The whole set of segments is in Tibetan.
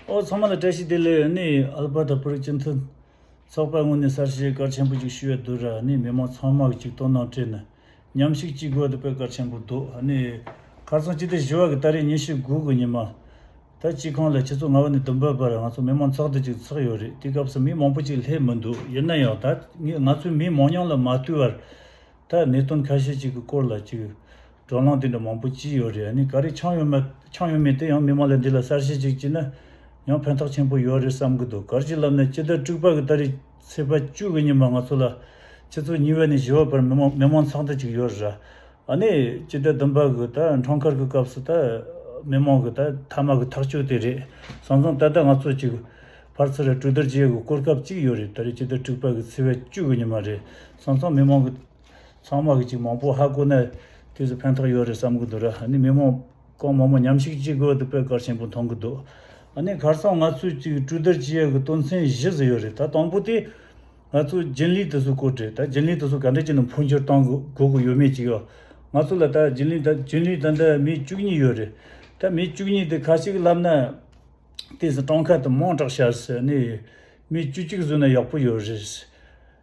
ཨོ་ཚང་མ་ལ་བཀྲ་ཤིས་བདེ་ལེགས་ནི་ཨལ་པར་ཏོ་བོད་རིགས་སྤྱི་མཐུན་ཚོགས་པ་དངོས་ནས་གསར་བརྗེའི་སྐར་ཆེན་པོ་ཅིག་ཞུ་བའི་དུས་ར་ནི་མི་མང་ཚང་མ་གི་ཅིག་སྟོང་ནང་བཀྲིས་ནི་ཉམས་ཤིག་ཅིག་དགོས་ཏུ་པའི་སྐར་ཆེན་པོ་འདུག་ཨ་ནི་གར་སོང་ཅི་སྟེ་བཞི་བ་གི་སྟ་རེ་ཉིན་ཤིག་དགུ་གི་ཉི་མ་ད་ཅིག་ཁང་ལ་ཁྱེད་ཚོ་ང་བ་ནི་དུམ་བུ་བར་ང་ཚོ་མི་མང་ཚོགས་འདུ་ཅིག་ཚགས་ཡོད་རེད་དེ་སྐབས་སུ་མི་མང་པོ་ཅིག་སླེབས་མི་འདུག་ཡིན་ན་ཡང་ད་ང་ཚོའི་མི་མང་ཉང་ལ་མ་བརྟུལ་བར་ད་གནད་དོན་ཁ་ཤས་གཅིག་གི་སྐོར་ལ་བཅོས། དྲོད་རླངས་དེ་འདྲ་མང་པོ་ཅི་ཡོད་རེད་ཨ་ནི་ག་རེ་འཆང་ཡོད་མེད་འཆང་ཡོད་མེད་དེ་ཡང་མི་མང་ལས་འདི་ལ་གསར་བཤད་ཅིག་བགྱིས་ན་ཡང་ཕན་ཐོག་ཆེན་པོ་ཡོད་རེད་བསམ་གི་འདུག་གར་གྱི་ལམ་ནས་ཅི་ལྟར་དཀྲུགས་པ་གི་ད་རེས་ཚེས་པ་བཅུ་གི་ཉིན་མ་ང་ཚོ་ལ་ཕྱི་ཚུལ་ཉི་བའི་ནས་བཞི་བ་བར་མི་མང་མི་མང་ཚག་འདི་གཅིག་ཡོད་རེད་ར་ཨ་ནི་ཅི་ལྟར་བདུན་པ་གི་ད་འཕྲང་འཁར་གི་སྐབས་སུ་ད་མི་མང་གི་ད་མཐའ་མ་གི་ཐག་གཅོད་དེ་རེད་བསམ་སོང་ད་ལྟ་ང་ཚོ་གཅིག་ཕར་ཚུར་ར་སྤྲོད་དར་རྒྱས་གི་སྐོར་སྐབས་གཅིག་ཡོད་རེད་ད་རེས་ཅི་ལྟར་དཀྲུགས་པ་གི་ཚེས་བ་བཅུ་གི་ཉིན་མ་རེད་ས་མཐོ་མི་མང་གི་ཚང་མ་གི་ཅིག་མང་པོ་ཧ་གོ་ནས་དུས་སུ་ཕན་ཐོག་ཡོད་རེད་བསམ་གི་འདུག་ར་ནི་མི་མང་གང་མང་མོ་ཉམས་ཞིག་ཅིག་དགོས་འདུག་པས་གར་ཆེན་པོ་མཐོང་གི་འདུག་ཨ་ནི་གར་ཚང་ང་ཚོས་ཅིག་སྤྲུལ་དར་སྤྱི་ཡས་གི་སྟོན་མཚན་གཞི་ཟི་ཡོད་རེད་ད་དང་པོ་དེ་ང་ཚོ་རྒྱན་ལིའི་དུས་སུ་བསྐོ་དྲེད་ད་རྒྱན་ལིའི་དུས་སུ་ག་འདྲ་ཅིག་ནང་འཕོ་འགྱུར་གཏང་དགོས་གི་ཡོད་མེད་ཅིག་ཡོད་ང་ཚོ་ལ་ད་རྒྱན་ལི་རྒྱན་ལིའི་ད་འདྲ་མི་བཅུ་གཉིས་ཡོད་རེད་ད་མི་བཅུ་གཉིས་དེ་ཁ་ཅིག་ལབ་ན་དེ་སྲིད་སྤྲང་ཁ་དེ་མང་དྲག་ཤར་སྲིད་ཨ་ནི་མི་བཅུ་གཅིག་བཟོས་ན་ཡག་པོ་ཡོད་རེད།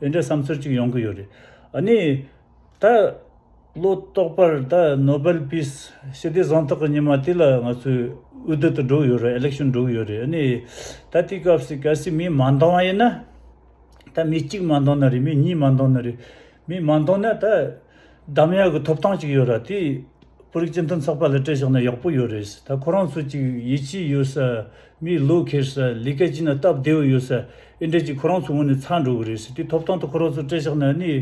དེ་འདྲའི་བསམ་ཚུལ་གཅིག་ཡོང་གི་ཡོད་རེད། ཨཱ་ནི། ད། བློ་ལྟོགས་པར་ད་ནོ་བེལ་པིས་ཞི་བདེ་གཟེངས་རྟགས་ཀྱི་ཉི་མ་དེ་ལ་ང་ཚོས་འུད་བསྟོད་དུ་འགྲོ་གི་ཡོད་རེད Election འགྲོ་གི་ཡོད་རེད་ཨཱ་ནི། ད་དེའི་སྐབས་སུ་གལ་སྲིད་མི་མ་འདང་བ་ཡིན་ན། ད་མི་གཅིག་མ་འདང་ན་རེད་མི་གཉིས་མ་འདང་ན་རེད། མི་མ་འདང་ན་ད། གདམ་ཡག་གི་ཐོབ་ཐང་ཅིག་ཡོད་ར་དེས་བོད་རིགས་སྤྱི་མཐུན་ཚགས་པར་ལ་སྤྲད་ཆོག་ན་ཡག་པོ་ཡོད་རེད་ད་ཁོ་རང་ཚོ་ཅིག་ཡིད་ཆེས་ཡོད་ས་མིའི་བློ་འཁེལ་ས་ལས་ཀ་ཅིག་ན་སྟབས་བདེ་བོ་ཡོད་ས་ཨེ་འདྲ་ཅིག་ཁོ་རང་ཚོ་ངོས་ནས་ཚར་འགྲོ་གི་རེད་དེ་ཐོབ་ཐང་ད་ཁོ་རང་ཚོ་སྤྲད་ཆོག་ན་ནི་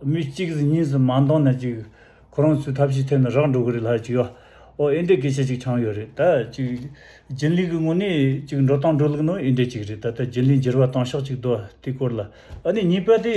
མི་གཅིག་གིས་གཉིས་སུ་མ་འདང་ན་ཅིག་ཁོ་རང་ཚོའི་ཐབས་ཤེས་ཐད་ན་རག་འགྲོ་གི་རེད་ལགས་ཅིག་ཨོ་ཨེ་འདྲའི་སྐད་ཆ་ཅིག་ཆང་ཡོད་རེད་ད་ཅིག་རྒྱུན་ལས་ཀི་ངོས་ནས་ཅིག་འགྲོ་སྟངས་འགྲོ་ལུགས་ནང་ཨེ་འདྲ་ཅིག་རེད་ད་ལྟ་རྒྱུན་ལས་འགྱུར་བ་བཏང་ཤག་ཅིག་དོ་དེ་སྐོར་ལ་ཨ་ནི་གཉིས་པ་དེ།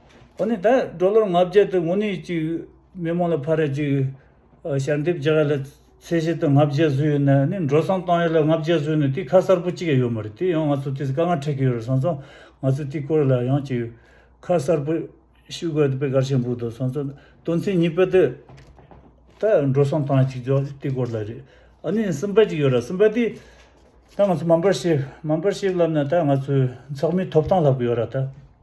ཁོ་ནི་ད་གྲོ་ལོར་ང་བརྒྱད་དུ་ངུ་ནས་ཅིག་མི་མོ་ལ་ཕ་ར་ཅིག་ཞལ་འདེབས་བྱ་བ་ལ་ཚེ་བཞི་དང་ང་བརྒྱད་བཟོས་ཡོད་ནའི་ནི་འགྲོ་སོང་བཏང་ཡོད་ལ་ང་བརྒྱད་བཟོས་ནས་དེ་ཁ་གསར་པོ་གཅིག་ཡང་ཡོད་མ་རེད་དེ་ཡང་ང་ཚོ་དེ་ཚོ་དཀའ་ངལ་འཕྲད་ཀྱི་ཡོད་རེད་སོང་ཙང་ང་ཚོས་དེ་སྐོར་ལ་ཡང་ཅིག་ཁ་གསར་པོ་ཞུ་དགོས་ཡོད་པའི་དགར་བྱེད་འབུག་འདུག་སོང་ཙང་དོན་ཚན་གཉིས་པ་དེ་ད་འགྲོ་སོང་བཏང་ཅིག་འཇོག་དེ་སྐོར་ལ་རེད་ཨ་ནི་གསུམ་པ་ཅིག་ཡོད་རེད་གསུམ་པ་དེ་ད་ང་ཚོ་མམ་པར་ཤེབ་མམ་པར་ཤེབ་ལབ་ན་ད་ང་ཚོའི་འཚག་མིའི་ཐོབ་ཐང་ལབ་གི་ཡོད་རེད་ད།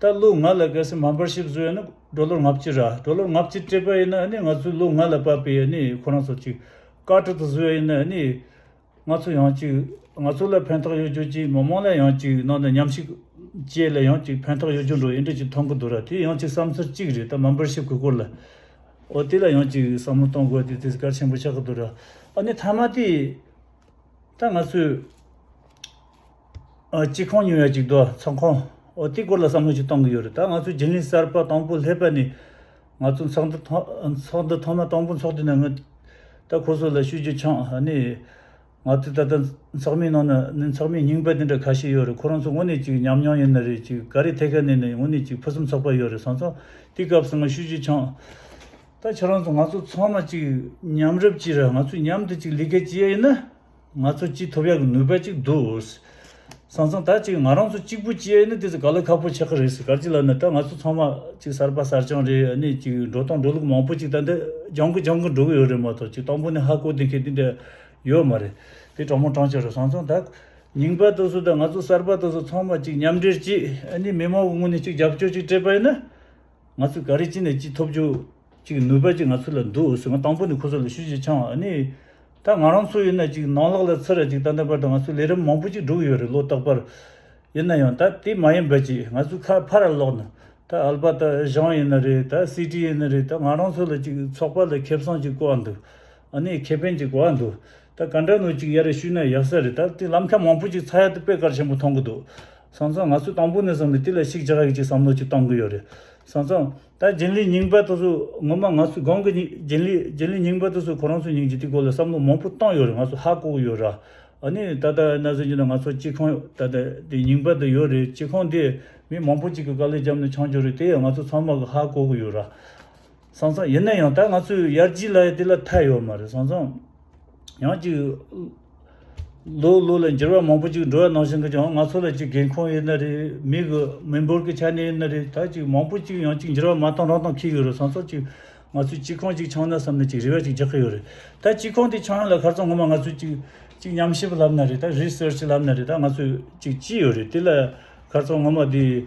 ད་ལོ་ང་ལ་གལ་སྲིད་མ་འབར་ཤིག་བཟོས་ཡོད་ན་སྒྲོ་ལོར་ངག་གཅིག་ར་སྒྲོ་ལོར་ངག་གཅིག་སྤྲད་པ་ཡིན་ན་ནི་ང་ཚོས་ལོ་ལྔ་ལ་བབས་པའི་ཡོད་ནི་ཁོ་རང་ཚོ་གཅིག་བཀའ་ཁྲི་དུ་བཟོས་ཡོད་ན་ནི་ང་ཚོ་ཡང་གཅིག་ང་ཚོ་ལ་ཕན་ཐོག་ཡོད་རྒྱུ་གཅིག་མི་མང་ལ་ཡང་གཅིག་ནང་དུ་ཉམས་ཞིག་བཅས་ལ་ཡང་གཅིག་ཕན་ཐོག་ཡོད་རྒྱུ་འགྲོ་ཡི་འདྲ་གཅིག་མཐོང་གི་འདུག་ར་དེ་ཡང་གཅིག་བསམ་ཚུལ་གཅིག་རེད་ད་མ་འབར་ཤིག་གི་སྐོར་ལ་འོ་དེ་ལ་ཡང་གཅིག་བསམ་བློ་གཏོང་དགོས་དེ་དེ་གལ་ཆེན་པོ་ཆགས་ཀྱི་འདུག་ར་ཨ་ནི་མཐའ་མ་དེ་ད་ང་ཚོས། གཅིག་ཁོང་ཉེ་བའི་གཅིག་ཏུ་ཚོགས་ཁང་ཨོ་ཏི་སྐོར་ལ་བསམ་བློ་ཞིག་གཏོང་གི་ཡོད་རེད་ད་ང་ཚོའི་རྒྱུན་ལས་གསར་པ་དང་པོ་སླེབས་པ་ནི་ང་ཚོ་ཚོགས་འདུ་ཚོགས་འདུ་ཐོག་མ་དང་པོ་འཚོགས་དུས་ན་ངོས་ད་ཁོ་ཚོ་ལ་ཤུ་རྒྱུ་འཆང་ནི་ང་ཚོའི་ད་ལྟ་ཚོགས་མིའི་ནང་ན་ནི་ཚོགས་མི་རྙིང་པ་དེ་འདྲ་ཁ་ཤས་ཡོད་རེད་ཁོ་རང་ཚོ་ངོ་ནས་ཅིག་ཉམས་མྱོང་ཡོད་ན་རེད་ཅིག་ག་རེ་ཐད་ཀ་ནས་ནི་ངོ་ནས་ཅིག་ཕུན་སུམ་ཚོགས་པ་ཡོད་རེད་བཟང་ཚོ་དེའི་སྐབས་སུ་ང་ཤུ་རྒྱུ་འཆང་ད་ཁྱེད་རང་ཚོ་ང་ཚོ་ཚང་མ་ཅིག་མཉམ་རུབ་ཅིག་ར་ང་ཚོས་མཉམ་དུ་ཅིག་ལས་ཀ་བྱེད་ཡ་ཡིན་ན། ང་ཚོ་ཅི་ཐུབ་ཡག་གི་ནུས་པ་གཅིག་འདུག། སང་སང་ད་ཅིག་ང་རང་ཚོ་གཅིག་པུ་སྐྱེས་ནི་དེ་ཚོ་ག་ལ་ཁག་པོ་ཆགས་ཀྱི་རེད་གར་གྱི་ལབ་ན་ད་ང་ཚོ་ཚང་མ་གཅིག་གསར་པ་གསར་རྐྱང་རེད་ཨ་ནི་གཅིག་འགྲོ་སྟངས་འགྲོ་ལུགས་མང་པོ་གཅིག་ད་འདི་སྦྱང་གི་སྦྱང་གི་འགྲོ་གི་ཡོད་རེད་མ་གཏོགས་གཅིག་དང་པོ་ནི་ཧ་གོ་དེ་མཁས་དེ་འདྲ་ཡོད་མ་རེད། དེ་དྲང་མོ་དྲང་ཆ་རེད་སང་སང་ད། ཉིང་པ་ད་སུ་ད་ང་ཚོ་གསར་པ་ད་སུ་ཚང་མ་གཅིག་མཉམ་འབྲེལ་གཅིག་ཨ་ནི་མི་མང་གི་ངོས་ནས་གཅིག་རྒྱབ་སྐྱོར་གཅིག་སྤྲད་པ་ཡིན་ན། ང་ཚོས་ག་རེ་ཅི་ནས་ཅི་ཐོབ་རྒྱུ། ཅིག་ནུས་པ་ཅིག་ང་ཚོ་ལ་འདུག་ཟེར་ང་དང་པོ་ནས་ཁོ་ཚོ་ལ་ཤུགས་ཆེ་འཆང་བ་ནི། ད་ང་རང་ཚོ་ཡིན་ན་ཅིག་ནང་ལག་ལ་ཚུར་ར་ཅིག་ད་ལྟ་བར་དུ་ང་ཚོ་ལས་རིམ་མང་པོ་ཅིག་བསྒྲུགས་ཡོད་རེད་ལོ་རྟག་པར། ཡིན་ན་ཡང་ད་དེ་མ་ཡིན་པ་ཅིག་ང་ཚོའི་ཁ་ཕར་ར་ལོག་ན་ད་ཨལ་པ་ད་ཞང་ཡིན་ན་རེད་ད་སི་ཀྲི་ཡིན་ན་རེད་ད་ང་རང་ཚོ་ལ་ཅིག་ཚོགས་པ་ལ་ཁེ་བཟང་ཅིག་བཀོལ་བ་འདུག་ཨ་ནི་ཁེ་ཕན་ཅིག་བཀོལ་བ་འདུག་ད་ག་འདྲ་ནུ་ཅིག་ཡ་རེ་ཞུས་ན་ཡག་ས་རེད་ད་དེ་ལམ་ཁ་མང་པོ་ཅིག་ཚ་ཡ་དུ་དཔེ་དཀར་ཆེན་པོ་མཐོང་གི་འདུག་སང་ཙང་ང་ཚོས་དང་པོ་ནས་བཟུང་ནས་དེ་ལ་ཤིག་ཆག་གིས་ཅིག་བསམ་བློ་ཅིག་བཏང་གི་ཡོད་རེད་སང་ཙང། ད་རྒྱུན་ལས་རྙིང་པ་དེ་ཚོ་ངོ་མ་ང་ཚོའི་སྒང་གི་རྒྱུན་ལས་རྒྱུན་ལས་རྙིང་པ་དེ་ཚོ་ཁོ་རང་ཚོའི་ཉིན་གཅིག་དེའི་སྐོར་ལ་བསམ་བློ་མང་པོ་བཏང་ཡོད་རེད་ང་ཚོ་ཧ་གོ་ཡོད་ར། ཨ་ནི་ད་ལྟ་ན་ཟེར་གྱི་འདུག་ང་ཚོ་སྤྱི་ཁང་ད་ལྟ་དེ་རྙིང་པ་དེ་ཡོད་རེད་སྤྱི་ཁང་དེ་མི་མང་པོ་ཅིག་གི་དཀའ་ལས་བརྒྱབ་ནས་ཆང་བྱོ་རེད་དེ་ཡང་ང་ཚོ་ཚང་མ་གི་ཧ་གོ་གི་ཡོད་ར། སང་སང་ཡིན་ན་ཡང་ད་ང་ཚོའི་ཡར་རྒྱས་ལ་དེ་ལ་ཐལ་ཡོད་མ་རེད་སང་སང། ཡང་ཅིག། ལོ་ལོ་ལ་འགྱུར་བ་མང་པོ་ཅིག་འགྲོ་བ་ནང་བཞིན་གྱི་ཀྱང་ང་ཚོ་ལ་ཅིག་རྒན་ཁོང་ཡོད་ན་རེ་མི་གི་མི་འབོར་གྱི་ཆ་ནས་ཡིན་ན་རེ་ད་ཅིག་མང་པོ་ཅིག་ཡང་ཅིག་འགྱུར་བ་མ་གཏོང་རང་གཏོང་ཁེལ་གྱི་རེད་སང་སོགས་ཅིག་ང་ཚོས་སྤྱི་ཁང་ཅིག་ཆགས་ན་བསམ་ན་ཅིག་རེ་བ་ཅིག་རྒྱག་གི་ཡོད་རེད་ད་སྤྱི་ཁང་དེ་ཆགས་ཡོང་ལ་ཁར་ཚང་ངོ་མ་ང་ཚོས་ཅིག་ཅིག་ཉམས་ཞིབ་ལབ་ན་རེ་ད research ལབ་ན་རེ་ད་ང་ཚོས་ཅིག་ཅི་ཡོད་རེད་དེ་ལ་ཁར་ཚང་ངོ་མ་དེ།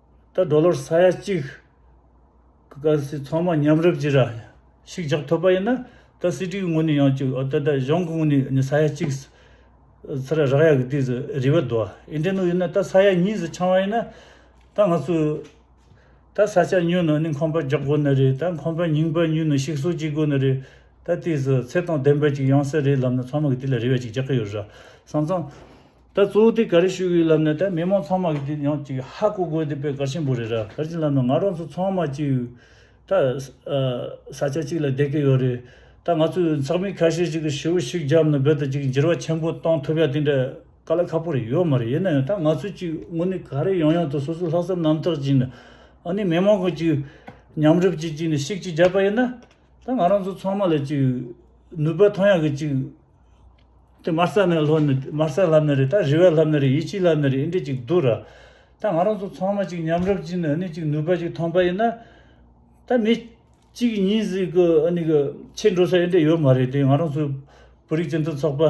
ད་གྲོ་ལོར་ས་ཡ་གཅིག་གི་ཀ་སི་ཚང་མ་མཉམ་རུབ་ཀྱི་ར་ཞིག་རྒྱག་ཐུབ་པ་ཡིན་ན་ད་སི་ཀྲི་གི་ངོས་ནས་ཡང་བཅུག་ཨོ་ད་ད་གཞུང་གི་ངོས་ནས་ས་ཡ་གཅིག་ཚ་ར་རག་ཡ་གི་དུས་སུ་རི་བ་རྡོ་ཨེ་འདྲེན་ནོ་ཡིན་ན་ད་ས་ཡ་གཉིས་སུ་འཆང་བ་ཡིན་ན་ད་ང་ཚོས་ད་ས་ཆ་ཉོས་ནོ་ནི་ཁང་པ་རྒྱག་དགོས་ནི་རེད་ད་ཁང་པ་རྙིང་པ་ཉོས་ནོ་ཞིག་གསོ་བྱེད་དགོས་ནི་རེད་ད་དུས་སུ་ཚེ་དང་ལྡན་པ་ཅིག་ཡོང་ས་རེད་ལབ་ན་ཚང་མ་གི་དུས་ལ་རི་བ་ཅིག་རྒྱག་གི་ཡོད་ར་སང་ཙང། ད་གཙོ་བོ་དེ་ག་རེ་ཞུ་གི་ཡོད་ལབ་ནས་ད་མི་མང་ཚང་མ་གིས་དེ་ཡང་ཅིག་ཧ་གོ་གོ་དེ་པད་དཀར་ཆེན་པོ་རེད་ར་ག་རེ་ཅིག་ལབ་ན་ང་རང་ཚོ་ཚང་མ་ཅིག་ད་ས་ཆ་གཅིག་ལ་བསྡད་ཀི་ཡོད་རེད་ད་ང་ཚོས་ཚགས་མི་ཁ་ཤས་ཅིག་གིས་ཞི་བོ་ཞིག་བརྒྱབ་ན་བོད་དུ་ཅིག་འགྱུར་བ་ཆེན་པོ་གཏོང་ཐུབ་ཡ་དེ་འདྲ་དཀའ་ལ་ཁག་པོ་རེད་ཡོད་མ་རེད་ཡིན་ན་ཡང་ད་ང་ཚོས་ཅིག་དངོས་གནས་ག་རེ་ཡང་ཡང་དུ་སོ་སོའི་ལྷག་བསམ་རྣམ་དག་ཅིག་ནི་ཨ་ནི་མི་མང་གི་ཅིག་མཉམ་རུབ་ཅིག་ཅིག་ནི་ཤིག་ཅིག་བརྒྱབ་པ་ཡིན་ན་ད་ང་རང་ཚོ་ཚང་མ་ལ་ཅིག་ནུས་པ་ཐོན་ཡ་གི་ཅིག། དེ་མར་སར་ནས་ལྷོ་ནི་མར་སར་ལྷ་མི་རེད་ད་རི་བའི་ལྷ་མི་རེད་ཡིད་ཆེས་ལྷ་མི་རེད་འདྲི་ཅིག་འདུག་ར་ད་ང་རང་ཚོ་ཚང་མ་ཅིག་མཉམ་རབ་ཅིག་ནས་ནི་ཅིག་ནུས་པ་ཅིག་ཐོངས་པ་ཡིན་ན་ད་མི་གཅིག་གི་ཉིན་ཟིག་གི་ཨ་ནི་གི་ཆེ་འགྲོ་ས་ཡིན་འདྲ་ཡོད་མ་རེད་དེ་ང་རང་ཚོའི་བོད་རིགས་སྤྱི་མཐུན་ཚོགས་པ་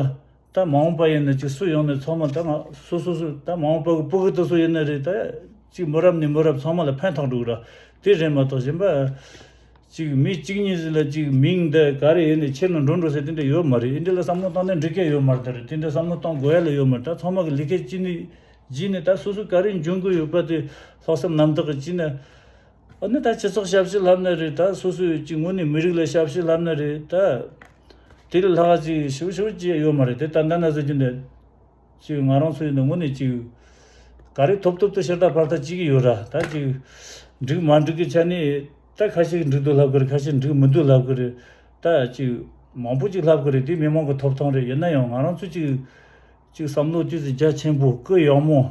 ད་མ་འོངས་པ་ཡིན་ན་ཅིག་སུ་ཡོང་ནས་ཚོགས་མ་ད་ང་སུ་སུ་སུ་ད་མ་འོངས་པ་གི་སྤུ་གུ་ད་སུ་ཡིན་ན་རེད་ད་ཅིག་མོ་རབ་ནི་མོ་རབ་ཚང་མ་ལ་ཕན་ཐོགས་འདུག་ར་དེ་རེད་མ་གཏོགས་གཞན་པ། གཅིག་མི་གཅིག་གཉིས་ཟེར་ལ་གཅིག་མིང་འདི་ག་རེ་ཡོད་ནས་ཁྱེར་ནས་འགྲོ་འགྲོ་ཟེར་དེ་འདྲ་ཡོད་མ་རེད་ཨེ་འདྲ་ལ་བསམ་བློ་བཏང་ན་འགྲིག་སྐད་ཡོད་མ་རེད་ད་རེད་དེ་འདྲ་བསམ་བློ་གཏོང་དགོས་ཡ་ལ་ཡོད་མ་རེད་ད་ཚང་མ་གི་ལི་ཁེ་གཅིག་ནི་བགྱིས་ནས་ད་སོ་སོ་ག་རེ་འབྱུང་དགོས་ཡོད་པ་དེ་ལྷག་བསམ་རྣམ་དག་གི་བགྱིས་ན་འོ་ན་ད་སྤྱི་ཚོགས་ཞབས་ཕྱི་ལྷབ་ན་རེད་ད་སོ་སོས་གཅིག་ངོ་ནས་མི་རིགས་ལ་ཞབས་ཕྱི་ལྷབ་ན་རེད་ད། དེ་ལ་ལྷག་གཅིག་ཞུ་ཞུ་བགྱི་ཡ་ཡོད་མ་རེད་དེ་ད་ད་ན་ཟེར་གྱི་འདི། ཅིག་ང་རང་ཚོ་ཡིན་ན་ངུ་ནས་ཅིག། ག་རེ་ཐོབ་ཐོབ་ཏུ་ཤ་སྟག་ཕར་ལྟ་ཅི་གི་ཡོད་ར་ད་ཅིག། འགྲིག་མ་འགྲིག་གི་ཆ་ནས་ད་ཁ་ཤིག་འགྲིག་འདུག་ལབ་གི་རེད་ཁ་ཤིག་འགྲིག་མི་འདུག་ལབ་གི་རེད། ད་ཅིག། མང་པོ་ཅིག་ལབ་གི་རེད་འདི་མི་མང་གི་ཐོབ་ཐང་རེད་ཡིན་ན་ཡང་ང་རང་ཚོ་ཅིག། ཅིག་བསམ་བློ་ཅུས་ཅིག་རྒྱ་ཆེན་པོ་སྐུལ་ཡག་མོ།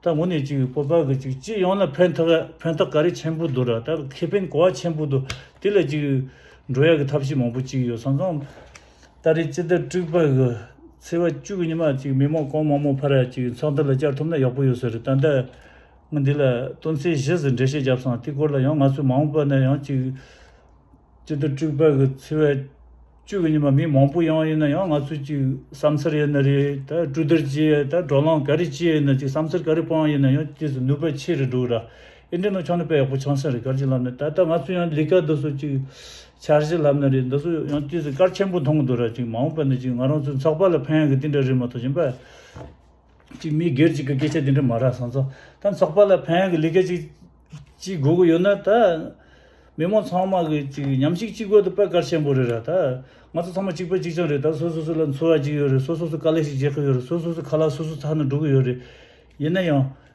ད་ངུ་ནས་ཅིག་སྤོབས་པ་གི་ཅིག་སྤྱི་ཡོངས་ལ་ཕན་ཐོགས་ཕན་ཐོགས་ག་རེ་ཆེན་པོ་འདུག་ར་ད་ཁེ་ཕན་གོ་བ་ཆེན་པོ་འདུག་དེ་ལ་ཅིག། འགྲོ་ཡག་གི་ཐབས་ཤེས་མང་པོ་ཅིག་ཡོད་སང་ཙང། སྟ་རེ་སྤྱི་ཟླ་དྲུག་པར་གི་ཚེས་བ་བཅུ་གཉིས་མ་གཅིག་མི་མང་གང་མང་མོ་ཕར་ར་གཅིག་ཚོགས་འདུ་ལ་བཅར་ཐུབ་ན་ཡག་པོ་ཡོད་ཟེར་རེད་ད་ལྟ་ངས་འདི་ལ་སྟོན་ཚེས་བཞི་ཟེར་འགྲེལ་བཤད་བརྒྱབ་སོང་དེ་སྐོར་ལ་ཡང་ང་ཚོའི་མ་འོངས་པ་ནས་ཡང་གཅིག་སྤྱི་ཟླ་དྲུག་པར་གི་ཚེས་བ་བཅུ་གཉིས་མ་མི་མང་པོ་ཡང་ཡིན་ན་ཡང་ང་ཚོ་གཅིག་བསམ་འཚར་ཡོད་ན་རེད་ད་སྤྲུལ་བསྡུར་གྱིས་ད་བགྲོ་གླང་ག་རེ་ཅི་ཡིན་ན་གཅིག་བསམ་འཚར་ག་རེ་སྤང་ཡིན་ན་ཡང་གཅིག་ནུས་པ་ཆེ་རེ་འགྲོ་གི་ར། ཨེ་འགྲིག་ན་ཆང་ནི་དཔེ་ཡག་པོ་ཆང་སྲིན་རེད་སྐར་ཆེན་ལབ་ནི་ད་ལྟ་ང་ཚོ་ཡང་ལི་སྐར་འདི་ཚོ་ཅིག་འཆར་གཞི་ལབ་ནི་རེད་འདི་ཚོ་ཡང་དུས་སུ་སྐར་ཆེན་པོ་མཐོང་གི་འདུག་ར་ཅིག་མ་འོངས་པ་ནི་ཅིག་ང་རང་ཚོའི་ཚགས་པར་ལ་ཕན་ཡོང་གི་དེ་འདྲ་རེད་མ་གཏོགས་གཞན་པ་ཅིག་མི་སྒེར་ཅིག་གི་སྐད་ཆ་དེ་འདྲ་མ་རག་བཟང་ཚོ་ད་ཚགས་པར་ལ་ཕན་ཡོང་གི་ལི་སྐར་ཅིག་ཅིག་དགོས་ཀྱི་ཡོད་ན་ད་མི་མང་ཚང་མ་གི་ཅིག་ཉམས་ཞིག་ཅིག་དགོས་འདུག་དཔེ་སྐར་ཆེན་པོ་རེད་ར་ད་ང་ཚོ་ཚང་མ་གཅིག་པ་གཅིག་ཆང་རེད་ད་སོ་སོ་སོ་ལ་འཚོ་བ་ཅིག་ཡོད་རེད་སོ་སོ་སོ་དཀའ་ལས་ཞིག་རྗེས་ཁག་ཡོད་རེད་སོ་སོ་སོ་ཚ་ནི་འགྲོ་གི་ཡོད་རེད་ཡིན་ན་ཡང།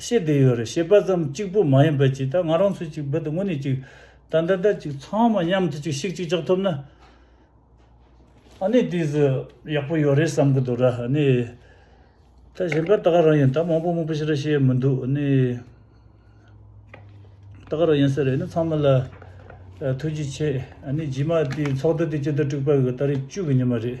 ཤེས་བསྡད་ཡོད་རེད་ཤེས་པ་ཙམ་གཅིག་པུ་མ་ཡིན་པ་གཅིག་ད་ང་རང་ཚོ་གཅིག་འབད་དུ་དངོས་གནས་གཅིག་ད་འདི་ལྟར་གཅིག་ཚང་མ་མཉམ་དུ་གཅིག་ཤིག་གཅིག་ལྕགས་ཐོབ་ན་ཨ་ནི་དེ་ཟི་ཡག་པོ་ཡོད་རེད་བསམ་གི་འདུག་ར་ཨ་ནི། ད་གཞན་པ་ད་ག་རང་ཡིན་ད་མང་པོ་མང་པོ་ཞིག་ར་ཤེས་མི་འདུག་ཨ་ནི། ད་ག་རང་ཡིན་ས་རེད་ཨ་ནི་ཚང་མ་ལ་ཐུགས་རྗེ་ཆེ་ཨ་ནི་རྗེས་མ་དེ་ཚོགས་འདུ་དེ་སྤྱི་ཟླ་དྲུག་པ་གི་ད་རེས་བཅུ་གི་ཉིན་མ་རེད